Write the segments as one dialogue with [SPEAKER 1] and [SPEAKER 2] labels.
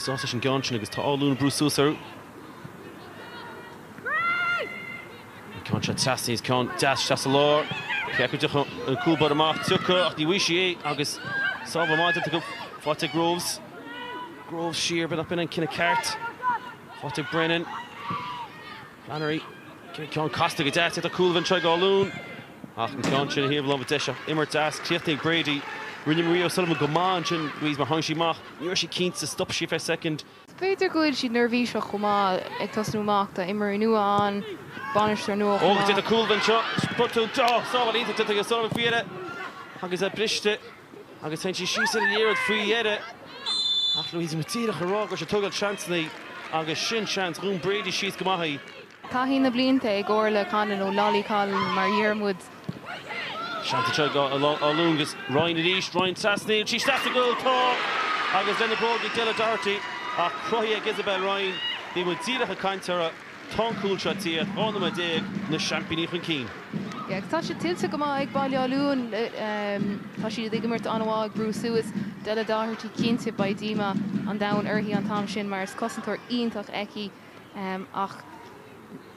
[SPEAKER 1] Suas leis an gceann sin agus tá Áth Luain ag brú suas orthu. An ceann seo trasna agus ceann deas isteach sa lár. Meas tú an dtiocfaidh an cúl baire amach? Tiocfaidh ach ní bhfaighidh sí é agus sábháil maith déanta acu. Faighte ag Groves. Groves siar, b'fhéidir nach b'in an cinneadh ceart. Faighte ag Brennan. Flannery, ceann casta go deas, d'fhéadfadh cúl a bheith anseo ag Áth Luain ach an ceann sin a thabhairt leo, deas, imirt deas, críoch ag Brady, rinne Marie O'Sullivan go maith ansin, Louise mar tháinig sí amach, ní raibh sí cinnte, stop sí ar feadh soicind. B'fhéidir go bhfuil siad neirbhíseach chomh maith, ag tosnú amach, tá imreoirí nua ann, bainisteoir nua chomh maith. Ó, d'fhéadfadh cúl a bheith anseo, sprioc tú, sábháil iontach déanta ag O'Sullivan faoi dheireadh agus é briste. agus téann sí síos ina dhiaidh faoi dheireadh ach Louise bhí muid díreach ag rá gur cineál seans ann agus sin seans do Brady ansin go maith í. Taithí na blianta ag Orlaith Conlon nó Lolly Conlon mar a déarfadh muid. Seans anseo ag Áth Luain agus Ryan arís, Ryan trasna, an bhfuil sé sa gcúl, tá! Agus féinchúl, bróg ag Della Doherty ach cruthaithe ag Isabel Ryan, bhí muid díreach ag caint ar a. Tá an cúl seo tar éis 12 nóiméad na seaimpíní chun cinn. Agus tá sé tuillte go maith ag Baile Átha Luain. Tá siad ag imirt an-mhaith, ag brú suas. Della Doherty, cinnte, beidh díomá an domhain uirthi an t-am sin mar is cosantóir iontach í. Ach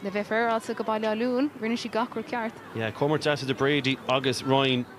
[SPEAKER 1] le bheith féaráilte do Bhaile Átha Luain, rinne sí gach rud ceart. Yeah, comhimirt deas idir Brady agus Ryan.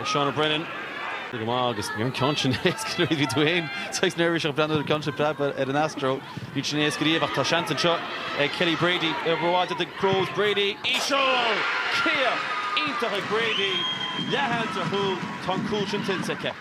[SPEAKER 1] Ag Seána Brennan. Go maith, agus níorbh an ceann sin éasca nuair a bhí tú féin saghas neirbhíseach ag breathnú ar an gceann sin ag preabadh ar an Astro. Níl sin éasca riamh ach tá seans anseo ag Kelly Brady. Obair mhaith déanta ag Groves, Brady. Íseal! Críoch iontach ag Brady. Léi an dara cúl tá an cúl sin tuillte aici.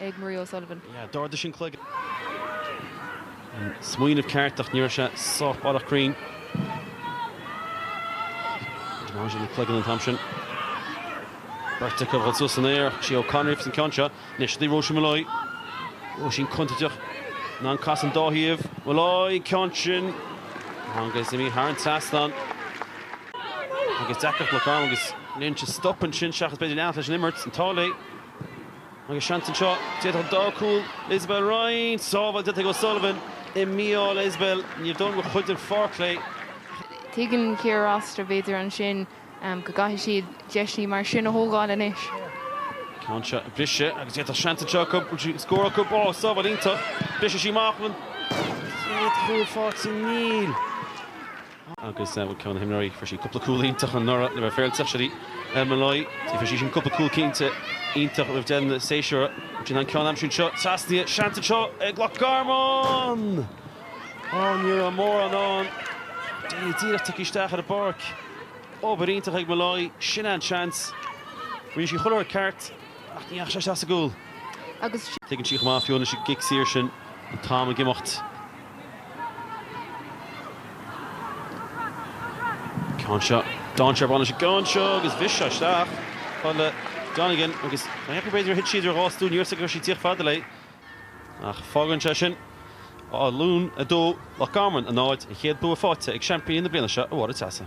[SPEAKER 1] ag Marie O'Sullivan. Yeah, d'ardaigh sí an cloigeann. An smaoineamh ceart ach ní raibh sé sách baileach cruinn. D'ardaigh sí an cloigeann an t-am sin. Beirt acu ag dul suas san aer, sí O'Connor agus an ceann seo. Anois seo í Róisín Molloy. Róisín contúirteach. In ann casadh an dá thaobh. Molloy, ceann sin. Agus imithe thar an trasnán. Agus deacracht Loch Garman agus rinne sí stop ansin seachas b'fhéidir leanacht leis an imirt. An t-ádh léi. Agus seans anseo, d'fhéadfadh, tá cúl, Isabel Ryan, sábháil déanta ag O'Sullivan ní bhfaigheann Isabel, níor d'fhonn mo chuid den pháirc léi. Tuigeann Ciara Rossiter, b'fhéidir, ansin go gcaithfidh siad deiseanna mar sin a thógáil anois. Ceann seo briseadh agus d'fhéadfadh seans anseo acu go bhfuil sí ag scór acu. Ó, sábháil iontach. Briseann sí amach chun an chéad chúl fáilte. Níl. agus bhuel ceann de na himreoirí, fuair sí cúpla cúl iontach anuraidh le bheith féaráilte, Ellen Molloy, fuair sí sin cúpla cúl cinnte iontach roimh deireadh an tséasúir, sin an ceann aimsir seo trasnaithe, seans anseo ag Loch Garman! Ó, ní raibh mórán ann, Daly díreach tagtha isteach ar an bpáirc, obair iontach ag Molloy, sin é an seans, rinne sí chuile rud ceart ach ní dheachaigh sé isteach sa gcúl agus. Tuigeann sí chomh maith fiú anois i gcic saor sin an t-am ag imeacht. Ceann seo, dainséar ag baint leis an gceann seo agus bhris seo isteach. Fáil le Donegan agus ba dheacair b'fhéidir a thit sí idir dhá stól, níor fhios gur sí díreach fada léi. Ach fágann sé sin Áth Luain 2, Loch Garman, a náid, an chéad bua faighte ag seaimpíní na bliana seo i bhForaidh Teasa.